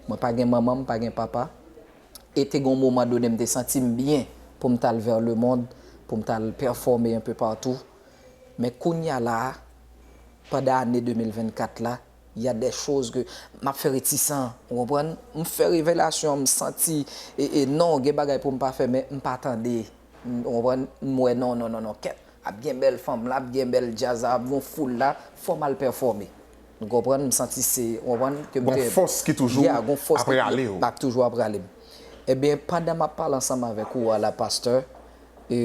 Mwen pa gen manman, m pa gen papa. E te gen yon moman done m te santi m byen pou m t al vè lemond, pou m t al pèfòme enpe patou. Men kounya la a, pandan ane 2024 la, y a dè choz ke m ap fè retisan, ou konprann. M fè revelasyon, m santi, e non, gen bagay pou m pa fè men m pa tande. Konprann m wè non non non kèt ap gen bèl fanm la ap gen bèl djaz la ap gon foul la fò m al pèfòme m konprann m santi se ou konprann ke m te Gon fòs ki toujou yeah gon fòs ap rale w ap toujou ap rale m ebyen pandan m ap pale ansanm avèk ou a la pastè e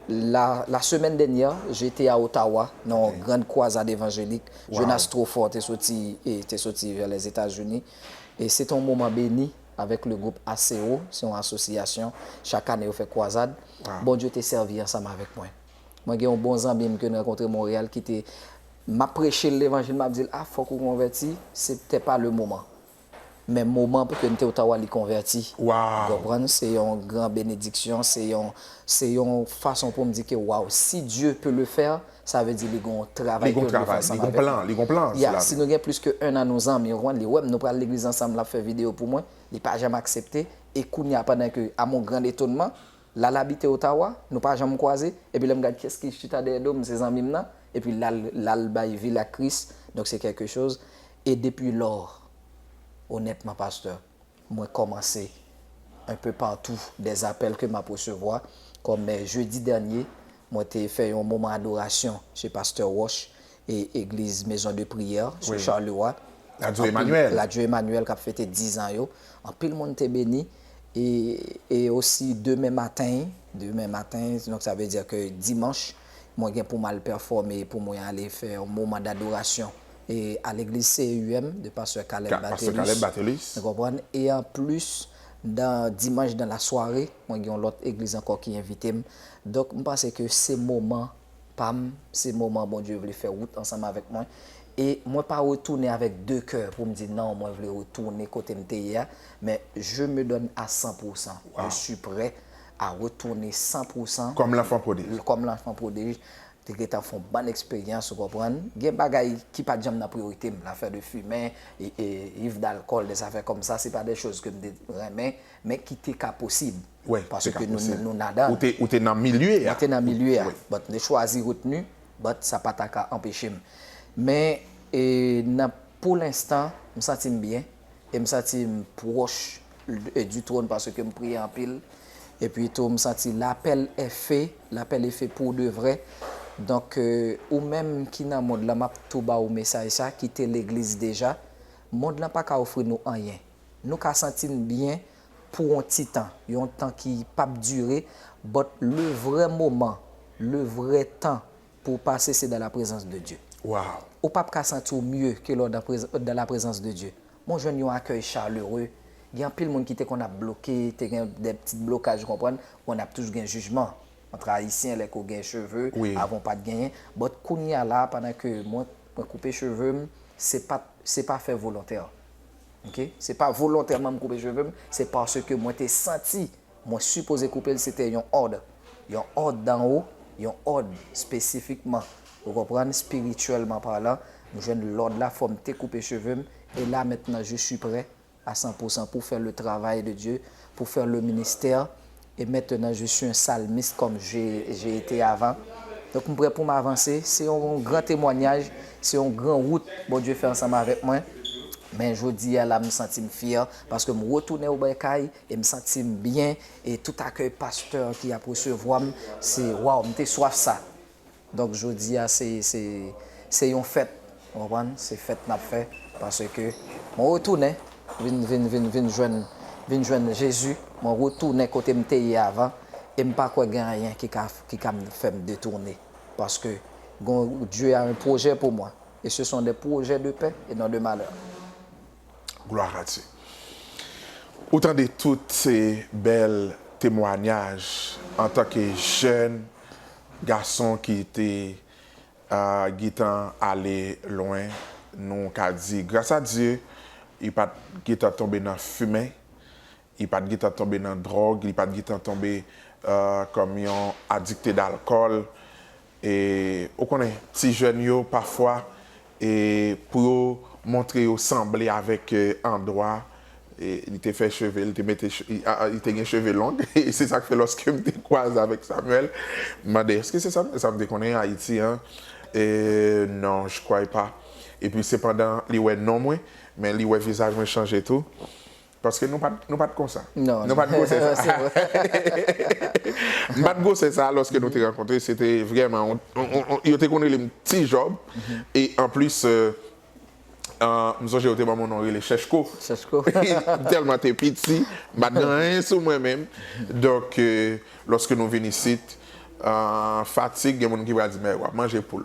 la la semèn dènyè je te a Ottawa nan yon grand kwazad evanjelik Jonas Trofort te soti e te soti vè Lèzetazini e se te yon moman beni. avèk le gwoup ACO, se yon asosyasyon, chak ane yo fè kwazad, Bondye te sèvi ansanm avèk mwen. Mwen gen yon bon zanmi m ke n rankontre Monreyal ki te, m ap preche l levanjil, m ap di l, a fòk ou konvèti, se te pa le moman. Men moman pou ke n te Ottawa li konvèti. Ou konprann? Se yon gran benediksyon, se yon, se yon fason pou m di ke waw, si Dieu peut le faire, Sa vle di li gon travay ke yo dwe fè ansanm avèk mwen. Li gon plan. Ya, si nou gen plis ke 1 an nou zanmi, ou konprann, li wèm, nou pral legliz ansanm, lap fè video pou mwen, li pa janm aksepte, e kounya pandan ke, a mon grand etonnement, lal abite Ottawa, nou pa janm kwaze, epi lèm gad kiyès ki chita dèyè dom, se zanmim nan, epi lal, lal bay vil ak Kris, donk se quelque chose, e depuis lors, honnêtement Pasteur, Mwen komanse, un peu partout, des appels que map resevwa, kom jeudi dernier mwen te fè yon moman adoration chez Pasteur Roche e eglise maison de prière sou Charleroi, Radio Emmanuel, Radio Emmanuel kap fete 10 ans yo, anpil moun te beni e e aussi demen maten, demen maten, donc ça veut dire que dimanche mwen gen poum al performer, pou mwen ale fè yon moman d'adoration E a legliz CEUM de pastè Caleb Bathelus ou konprann e an plis dan dimanch dan la sware mwen gen yon lòt egliz ankò ki envite m donk m panse ke se moman pa m se moman Bondye vle fè wout ansanm avèk mwen e mwen pa retounen avèk de kè pou m di nan mwen vle retounen kote m te ye a men je me donne a san pou san je suis près a retounen san pou san kòm lanfan prodij kòm lanfan prodij Te gentan fon bann eksperyans ou konprann, gen bagay ki pat janm nan priyorite m, lafè de fimen, iv dalkòl, de zafè kòm sa, se pa de choz ke m te renmen, men ki te ka posib, paske ke nou nadan. Ou te nan milye a. Mwen te nan milye a, but ne chwazi retenu, but sa pa ta ka anpeche m. Men nan pou lenstan, m santi m byen, e m santi m pwòch du trône paske m priye anpil epi tou m santi lapèl èfe lapèl efe pou de vrè donk ou menm ki nan mond lan map tou ba ou mesaj sa kite legliz deja mond lan paka ofri nou anyen nou ka santi n byen pou on ti tan yon tan ki pap dire but le vrè moman le vrè tan pou w pase se dan la prezans de Dye waww ou pap ka santi w mye ke lè w dan la prezans de Dye. Mwen jwenn yon akèy chaleureux, gen anpil moun ki te konn ap bloke, te gen de ptit blokaj ou konprann, konn ap toujou gen jijman antre ayisyen lè ke w gen cheve, avan w pat genyen, but kounya la pandan ke mwen mwen koupe cheve m se pat se pa fè volontè ok se pa volontèman m koupe cheve m se paske mwen te santi. Mwen sipoze koupe l se te yon òd. Yon òd dan wo, yon òd spesifikman. Ou konprann, spirityèlman palan, m jwenn lòd la fò m te koupe cheve m, e la mentnan je si prè a san pou san pou fè le travay de Dye, pou fè le ministè, e mentenan je si un salmiste kòm je je ete avan. Donk m prè pou m avanse. Se yon gran temwanyaj, se yon gran wout Bondye fè ansanm avèk mwen. Men jodi a la m santi m fyè paske m retounen oubè kay. E m santi m byen e tout akèy pastè ki ap resevwa m se waw m te swaf sa donk jodi a se se se yon fèt ou konprann se fèt n ap fè paske mwen retounen vin vin vin vin jwenn vin jwenn Jezi mwen retounen kote m te ye avan e m pa kwè gen anyen ki ka ki ka fè m detounen paske gon Dieu a un projet pour moi et ce sont des projets de paix et non de malheur. Gloire à Dieu. Ou tande tout se bèl temwanyaj antan ke jèn gason ki te gitan ale lwen nou ka di gras a Dieu u pat gitan tonbe nan fimen Li pa t gentan tonbe nan dwòg, li pa t gentan tonbe kòm yon adikte dalkòl. E ou konnen ti jèn yo pafwa pou yo montre yo sanble avèk andwa li te fè cheve, li te mete cheve, li te gen cheve long. E se sa k fè lòske m te kwaze avèk Samuel, m mande, èske se Samuel sa m te konnen Ayiti an? E non, je crois pas. Epi sepandan li wè non mwen, men li wè vizaj mwen chanje tou. Paske nou pat, nou pat konsa. Non. Nou pat gwosè sa. Se vre. Nou pat gwosè sa lòske nou te rankontre. Se te vrèman yon, yo te konn rele m Ti Jòb. E anplis, m sonje yo te ban m yon non rele Chèchko. Chèchko. Tèlman te piti, m pat gen anyen sou mwen menm. Donk, Lòske nou vin isit, fatig, gen moun ki pral di, men, w ap manje poul.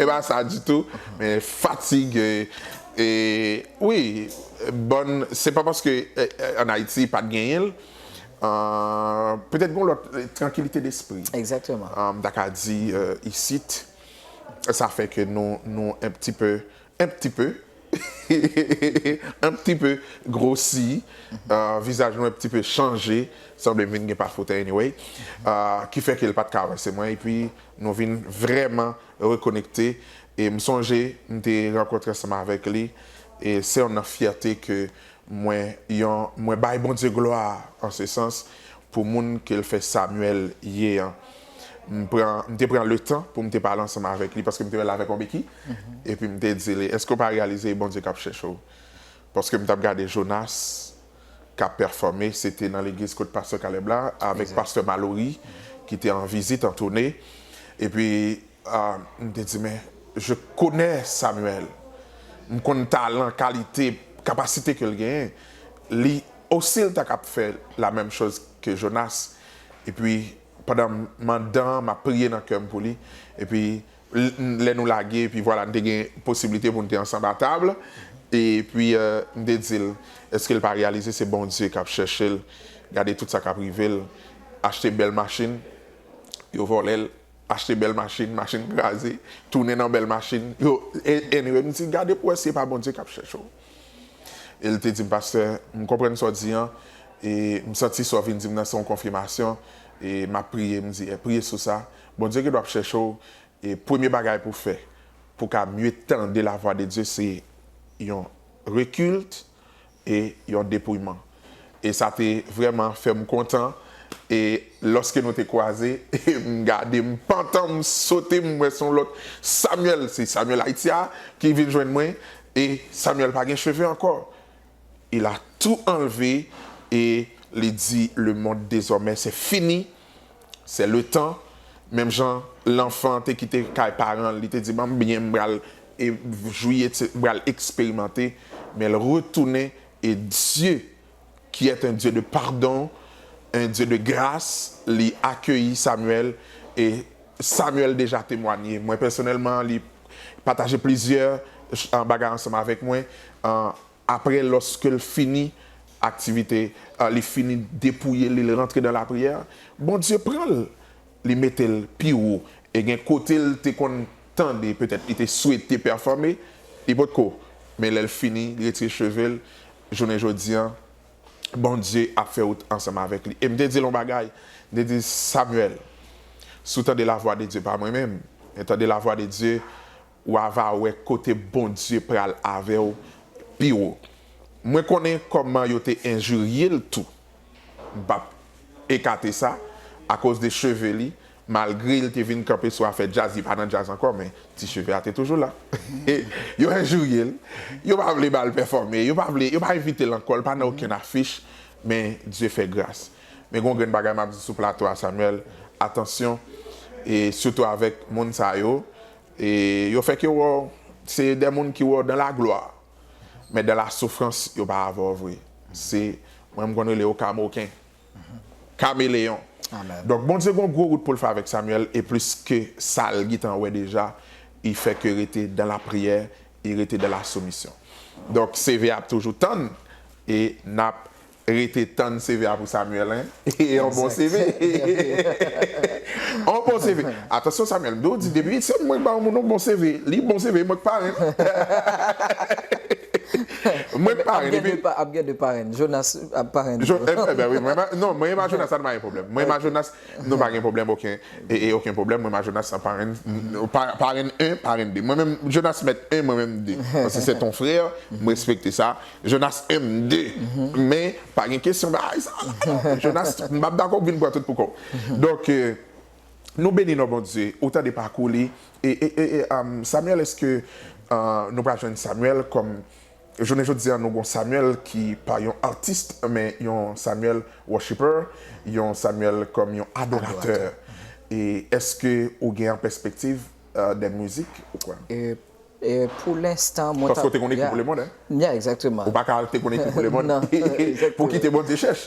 E pa sa ditou, men fatig, e, wi, bòn, se pa paske an Ayiti pa t genyen l, petèt gen yon lòt trankilite despri. Egzakteman. M ta ka di isit, sa fè ke nou enptipe Un petit peu Un petit peu grosi Vizaj nou un petit peu chanje Sanble m vin gen pa foutè anyway Ki fè ke l pa t ka avanse mwen epi nou vin vrèman rekonekte E m sonje m te rankontre ansanm avèk li E se yon nan fyète ke Mwen yon mwen bay Bondye glwa an se sans pou moun ke l fè Samuel ye an. M pran m te pran letan pou m te pale ansanm avèk li paske m te wè l avèk yon beki epi m te di li èske w pa reyalize e Bondye k ap chèche w? Paske m t ap gade Jonas k ap pèfòme se te nan legliz kot pastè Caleb la avèk pastè Malory ki te an vizit an toune epi M te di, Men, je connais Samuel. M konn talan, kalite, kapasite ke l genyen. Li osi l ta kab fè la menm choz ke Jonas. Epi, pandan m mandan, m ap priye nan kè m pou li. Epi, lè nou lage, epi vwala, n te gen posiblite pou n te ansanm a tab. Epi, m te di l, Eske l pa reyalize se Bondye k ap chèche l? Gade tout sa k ap rive l. Achte bèl machin, yo vòlè l. Achte bèl machin, machin kraze, tounen nan bèl machin. Yo, Henry, m di, gade pou wè si e pa Bondye k ap chèche w. E l te di m, Pastè, m konprann sa w di an, e m santi sa w vin di m nan se yon konfimasyon, e m ap priye. M di, Priye sou sa. Bondye gendwa ap chèche w, e premye bagay pou w fè pou w ka mye tande lavwa de Dye se yon rekilt, e yon depouyman e sa te vrèman fè m kontan e lòske nou te kwaze e m gade m pantan m sote m wè son lòt Samuel se Samuel Haïti a ki vin jwenn mwen e Samuel pa gen cheve ankò il a tout enlevé e li di le monde désormais c'est fini. Se le tan, menm jan lanfan te kite kay paran l, li te di ban m byen m pral jwi et m pral eksperimante, men l retounen e Dye ki est un Dieu de pardon, un Dieu de gras, li akeyi Samuel e Samuel deja temwanye. Mwen pèsonèlman li pataje plizyè bagay ansanm avèk mwen. Apre loske l fini aktivite, li fini depouye li, li rantre nan lapriyè, Bondye pran l, li mete l pi wo. E gen kote l te konn tande, petèt li te swete pèfòme, li potko. Men lè l fini, li retire cheve l, jounen jodi a, Bondye ap fè wout ansanm avèk li. E m te di l yon bagay, m te di l, Samyèl, si w tande lavwa de Dye, pa mwen menm, men tande lavwa de Dye, Wa va wè kote Bondye pral avè w pi wo. Mwen konnen kòman yo te enjirye l tou. M p ap ekate sa, akoz de cheve li, malgre l te vin kanpe sou afè djaz, li pa nan djaz ankò, men ti cheve a te toujou la. Yo enjirye l, yo pa vle ba l pèfòme, yo pa vle, yo pa envite l ankò, l pa nan okenn afich, men Dye fè gras. Men gen yon grenn bagay m ap di sou plato a Samuel, atansyon, e sitou avèk moun sa yo, E yo fè ke wè w se de moun ki wè w dan la glwa, men dan la soufrans yo pa avè w vre. Se, mwen m konn rele yo kamoken, kameleyon. Donk Bondye gon gwo wout pou l fè avèk Samyèl e plis ke sa l gitan wè deja, i fè ke rete dan lapriyè, i rete dan lasomisyon. Donk CV a ap toujou tann e n ap Rete tann CV a pou Samuel hein. Yon bon CV. Yon bon CV. Atansyon Samuel, mdo di depi se mwen k ba yon moun yon bon CV, li bon CV, mwen k parenn. Mwen k parenn epi. Ap gen 2 parenn. Jonas ap parenn tou. Ebyen wi. Non, mwen a Jonas sa nou pa gen pwoblèm. Mwen a Jonas nou pa gen pwoblèm oken. E oken pwoblèm mwen a Jonas ap parenn. Parenn 1, parenn 2. Mwen menm Jonas mèt 1, mwen menm 2. Paske se ton frè, m respekte sa. Jonas MD, Men, pa gen kesyon bagay sa a la non. Jonas, m pa p dakò pou vin pran tout pou kò w. Donk, nou beni non Bondye. Ou tande pakou li. E, e, e, e, Samuel, èske nou pral jwenn Samuel kòm, jounen jodi a nou gen yon Samuel ki pa yon artist men yon Samuel worshipper, yon Samuel kòm yon adoratè. E, èske ou gen an pèspektiv de mizik ou kwè? Paske w te konn ekri pou lemonn hein. Ou pa ka te konn ekri pou lemonn pou w kite Bondye chèch.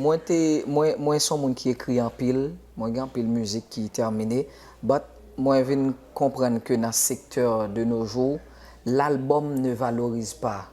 Mwen son moun ki ekri anpil, mwen gen anpil mizik ki termine but mwen vin konprann ke nan sektè de nos jours l'album ne valorise pas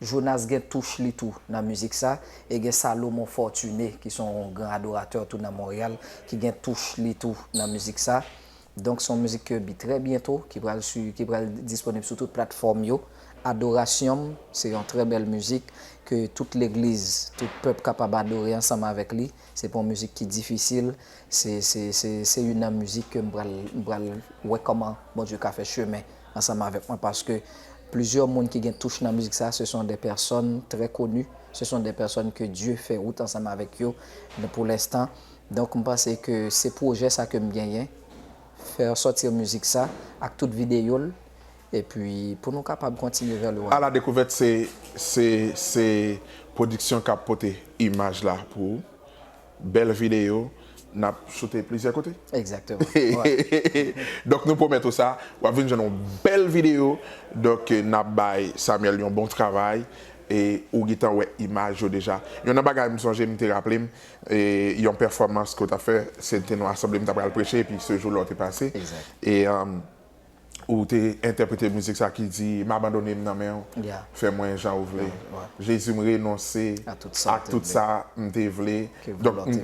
Jonas gen touch li tou nan mizik sa e gen Salomon Fortuné ki son yon gran adoratè tou nan Montréal ki gen touch li tou nan mizik sa. Donk son mizik ke bi trè byento ki pral su ki pral disponib sou tout platfòm yo. Adorasyon'm se yon trè bèl mizik ke tout legliz, tout pèp kapab adore ansanm avèk li. Se pa yon mizik ki difisil. Se se se se youn nan mizik ke m pral m pral wè kòman Bondye ka fè chemen ansanm avèk mwen paske plizyè moun ki gen touch nan mizik sa se son de pèsòn trè koni se son de pèsòn ke Dye fè wout ansanm avèk yo pou lenstan donk m panse ke se pwojè sa ke m genyen fè sòti mizik sa ak tout videyo l epi pou nou kapab kontinye vè lwa. A la dekouvèt se se se pwodiksyon k ap pote imaj la pou ou. Bèl videyo, n ap sote plizyè kote. Exactement, ouais. Donk nou pwomèt ou sa, w ap vin jwenn yon bèl videyo. Donk n ap bay Samuel yon bon travay e ou gentan wè imaj yo deja. Yon nan bagay m sonje m te raple m, yon pèfòmans ke w t ap fè, se te nou asanble m ta pral preche epi sejou la w te pase. Exact. E. ou te entèprete mizik sa ki di m abandone m nan men w fè mwen jan ou vle Jezi m renonse ak tout sa m te vle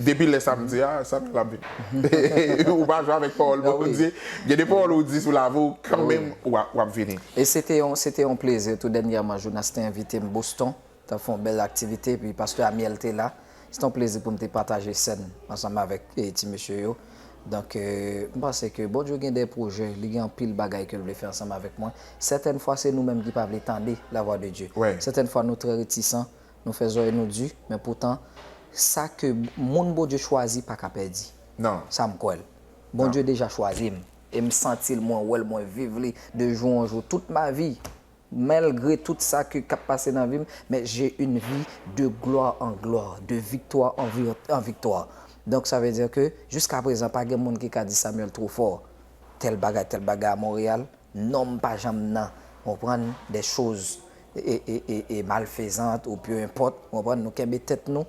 depi lè sa m di a sa te la vi m ou pa jwe avèk pawòl Bondye gen de pawòl ou di sou lavi w kan menm w ap vini e se te yon plezi tou dènyèman Jonas te envite m Boston. Tap fè yon bèl aktivite epi pastè Amiel te la. Se te yon plezi pou m te pataje sèn ansanm avèk ti mesye yo. Donk, m panse ke Bondye gen de pwojè, li gen anpil bagay ke l vle fè ansanm avèk mwen. Sètèn fwa se nou menm ki pa vle tande lavwa de Dye. Sètèn fwa nou trè retisan, nou fè zòrèy nou di, men poutan sa ke moun Bondye chwazi pa ka pèdi. Sa m kwè l. Bondye deja chwazi m e m santi l, mwen wè l, mwen viv li de jou an jou tout ma vi. Malgre tout sa ke kap pase nan vim mais j'ai une vie de gloire en gloire de victoire en victoire donc ça veut dire que jusqu'à présent pa gen moun ki ka di Samuel trop fort tel bagay tel bagay à Montréal nom pa janm nan ou konprann des choses et malfaisante ou peu importe ou konprann nou kenbe tèt nou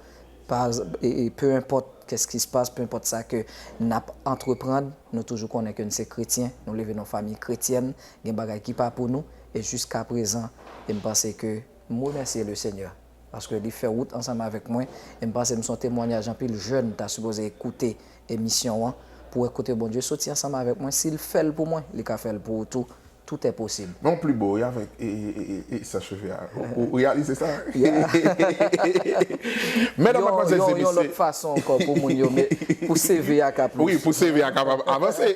peu importe qu'est ce qui se passe peu importe sa ke nap entreprendre nou toujou konnen ke nou se kretyen nou leve nan yon famille kretyèn Gen bagay ki pa pou nou e jiska prezan e m panse ke m remèsye le Senyè paske li fè wout ansanm avèk mwen e m panse m son temwanyaj anpil jèn ta sipoze koute emisyon an pou wè kote Bondye soti ansanm avèk mwen si l fè l pou mwen li ka fè l pou ou tou toutè posib. Mwen yon pli bo wi avèk e sa cheve a. Ou reyalize sa? Mèdam, madmwazèl, se mesye. Yon lòt fason ankò pou moun yo met, pou CV a ka plis. Wi, pou CV a ka avanse.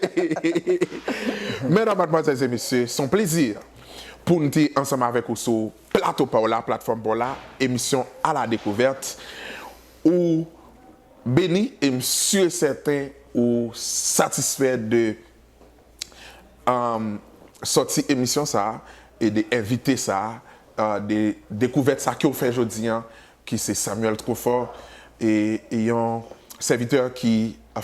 Mèdam, madmwazèl, se mesye, se yon plezi pou m te ansanm avèk ou sou plato pa w la, platfòm pa w la, emisyon A la Découverte. Ou beni e m si e sèten ou satisfè de sòti emisyon sa e de envite sa de dekouvèt sa kew fè jodi an ki se Samuel Trufort e yon sèvitè ki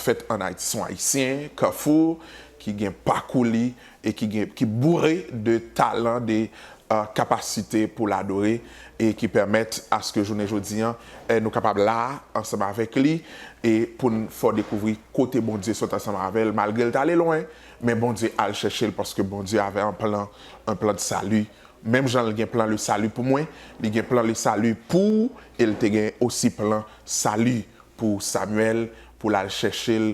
fèt an Ayiti son ayisyen kafou ki gen pakou li e ki boure de talan de kapasite pou l adore e ki pèmèt aske jounen jodi an nou kapab la a ansanm avèk li e pou n fè w dekouvri kote Bondye sot ansanm avè l malgre l t ale lwen men Bondye al chèche l paske Bondye avè an plan an plan de sali menm jan l gen plan le sali pou mwen li gen plan le sali pou ou e l te gen osi plan sali pou Samyèl pou l al chèche l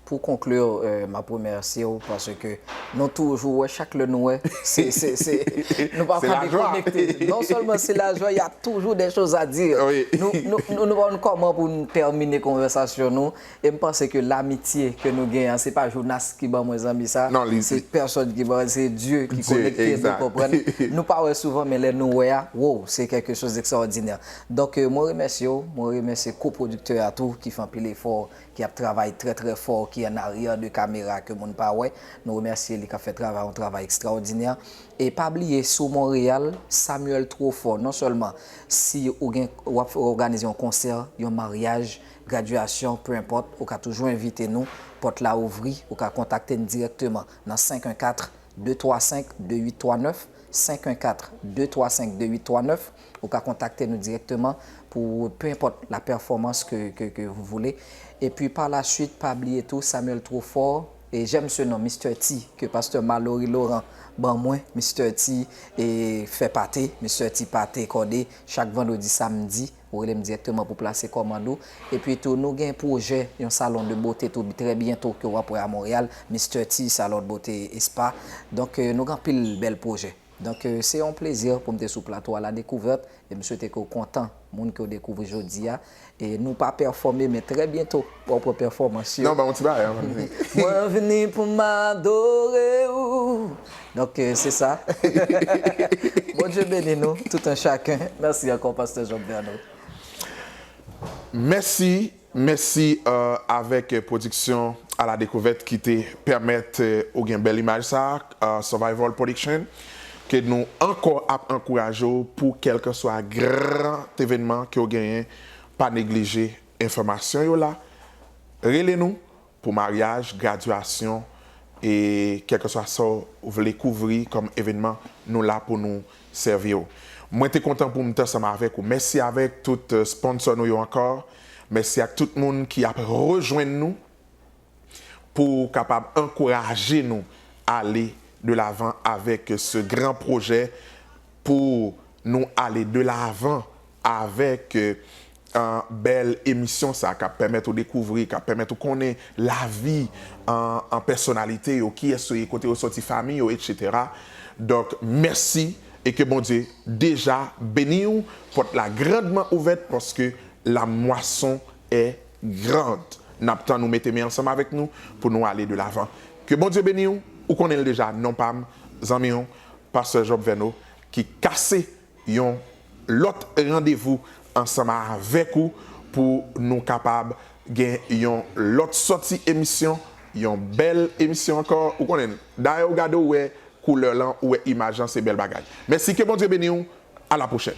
Pou conclure map remèsye w paske nou toujou wè chak lè nou wè se se se nou pa ka dekonekte non sèlman se lajwa ya toujou dè choz a di nou nou nou nou pa konn kòman pou nou tèmine konvèsasyon nou e m panse ke lamitye ke nou gen an se pa Jonas ki ban mwen zanmi sa se pèsòn ki ban se Dye ki konekte nou konprann nou pa wè souvan men lè nou wè a woww se kèlke choz ekstraòdinè donk mwen remèsye w mwen remèsye kopwodiktè a tou ki fè anpil efò ki ap travay trè trè fò, ki an aryè de kamera ke moun pa wè, nou remèsye li kap fè travay yon travay ekstraòdinè, e pa bliye sou Monreyal, Samuel two fò, non sèlman si ou gen wap òganize yon konsè, yon maryaj, gradyasyon, peu enpòt, ou ka toujou envite nou, pòt la ouvri, ou ka kontakte n dirèkteman nan 514. 235 2839, 514 235 2839, ou ka kontakte nou direkteman pou peu enpòt la pèfòmans ke ke vous voulez, epi par la suite pa bliye tou Samuel Trofort et j'aime ce nom Mister T ke Pasteur Malory Laurent ban mwen, Mister T e fè pate, Mister T pate kòde chak vandredi samdi. Ou rele m dirèkteman pou plase kòmand ou. Epi tou nou gen pwojè yon salon de bote tou trè byento ke w ap wè a Monreyal, Mister T Salon de Beauté et Spa. Donk nou gen anpil bèl pwojè. Donk se yon plezi pou m te sou plato a Ladekouvèt e m swete ke w kontan moun ke w dekouvri jodi a. E nou pa pèfòme men trè byento. Wap wè pèfòmans yo. Mwen vni pou m adore ou. Donk se sa. Bondye beni nou tout un chacun. Mèsi ankò Pastè Job Verneau. Mèsi, mèsi avèk Production à la découverte ki te pèmèt ou gen bèl imaj sa a, Survival Production, ke nou ankò ap ankouraje w pou kèlkanswa gran evènman ke w genyen, pa neglije Enfòmasyon yo la. Rele nou pou maryaj, gradyasyon e kèlkeswa sa w vle kouvri kòm evènman, nou la pou nou sèvi w. Mwen te kontan pou m t ansanm avèk ou. Mèsi avèk tout sponsò nou yo ankò. Mèsi ak tout moun ki ap rejwenn nou pou kapab ankouraje nou ale de lavan avèk se gran pwojè pou nou ale de lavan. avèk bèl emisyon sa kap pèmèt ou dekouvri kap pèmèt ou konnen lavi pèsonalite yo kiyès yo ye kote yo sòti fami yo etc donk mèsi e ke Bondye deja beniw pòt la grandman ouvèt paske la mwason è grand nap tann ou mete men ansanm avèk nou pou nou ale de lavan ke Bondye beniw ou konnenl deja non pam zanmiw Pasteur Job Verno ki kase. yon lòt randevou ansanm avèk ou pou nou kapab gen yon lòt sòti emisyon, yon bèl emisyon ankò. Ou konnen, dayè ou gade ou wè koulè lan, ou wè imaj lan, se bèl bagay. Mèsi, ke Bondye beni ou, a la pwochèn.